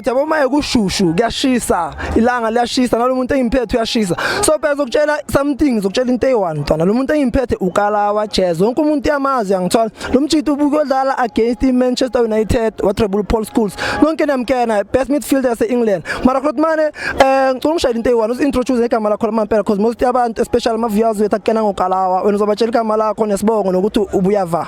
Yabo maye kushushu kuyashisa ilanga liyashisa nalo muntu engimphethe uyashisa so phela zokutshela something zokutshela into eyi-one mntwana lo muntu engimphethe ukalawa jazz wonke umuntu uyamazi uyangithola lo mjita ubuke odlala against i-manchester united watreble paul schools nonke niyamkena best midfielder yase-england mara khona mane um eh, ngicula ungishayela into eyi-one usi-introduce ngegama lakho lamampela because most yabantu especially ama-viewers wethu akukena ngokalawa wena uzobatshela igama lakho nesibongo nokuthi ubuyava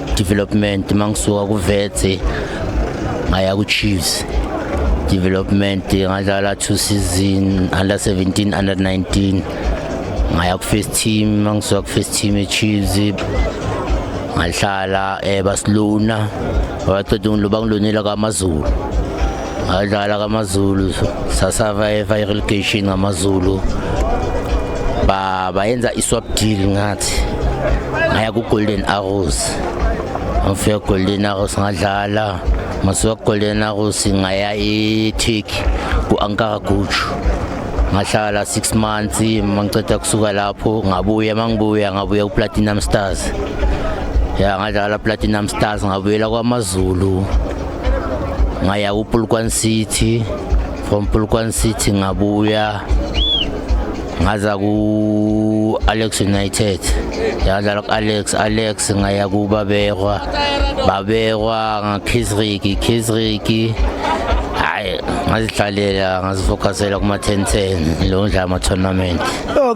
development mangisuka kuvethe ngaya kuchiefs development ngadlala two season under 17 under 19 ngaya ku-first team mangisuka ku-first team echiefs ngahlala um basiluna babaqeda bangilunela kwamazulu ngadlala kamazulu sasavaiva i-relegation ngamazulu bayenza i-swap deal ngathi ngaya ku-golden arrows ngifika golden arrows ngadlala masuka golden arrows ngaya e-tik ku-ankara guju ngahlala six months mangiceda kusuka lapho ngabuya mangibuya ngabuya ku-platinum stars ya ngadlala platinum stars ngabuyela kwamazulu ngaya kuPulkwan City from Pulkwan City ngabuya ngaza ku Alex United yadlala ku Alex Alex ngaya ku Babekwa Babekwa ngakhisriki khisriki hayi ngazihlalela ngazifocusela kuma 10 10 lo ndla ama tournament oh,